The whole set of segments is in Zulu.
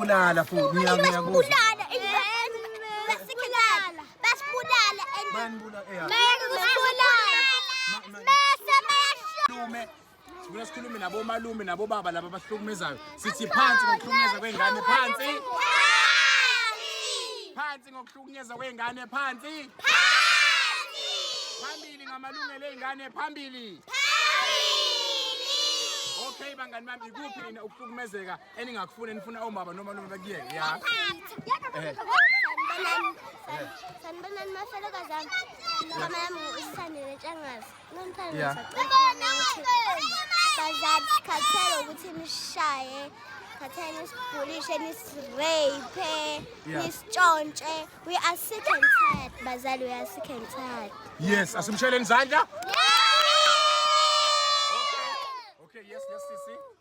Kulala futhi ngiya ngiya kuzo. Kulala and basikhala. Basibulala and Banibula eya. Mele kusibulala. Mese mesho. Lume. Sibuya sikhulume nabo malume nabo baba laba abahlukumezayo. Sithi phansi ngokuhlukumeza kwengane phansi. Phansi ngokuhlukunyezwa kwengane phansi. Phambili ngamalungelo eingane phambili. Okay bangani bami ikuphi nina ukuhlukumezeka eningakufuna enifuna omama noma noma bakuyeke ya eh. sanibonani mafelokazi ami mama yami usithandile ntshangazi bazali sikhathele ukuthi nishaye khathele nisibhulishe nisireyiphe nisitshontshe we are sick and tired bazali we are sick and tired yes asimsheleni izandla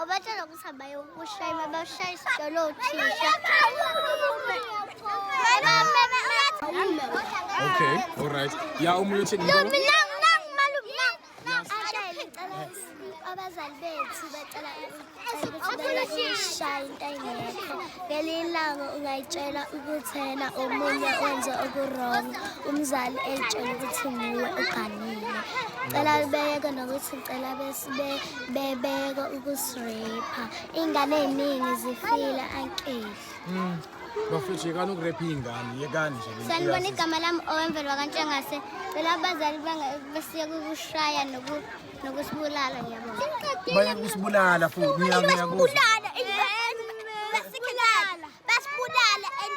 Obatshela ukuthi abayokushayima bashaya isitolo othisha. Okay, all right. Ya umuntu uthini? Mina nangu malume nangu. Ashayele ngicela abazali bethu bacela ukushaya into engekho. Ngelinye ilanga ungayitshela ukuthi yena omunye wenze okurong umzali etshela ukuthi nguwe uganile. Cela libeke nokuthi ngicela besibe bebeka ukusirepha ingane eziningi zifile ankeli mm. bafethu yekani ukurepha iy'ngane yekani nje sanibona igama lami owemvelo wakantshengase phela abazali basiye kukushaya nokusibulala ngiyabona baye kusibulala futhi ngiyakuzibulala basibulala basibulala basibulala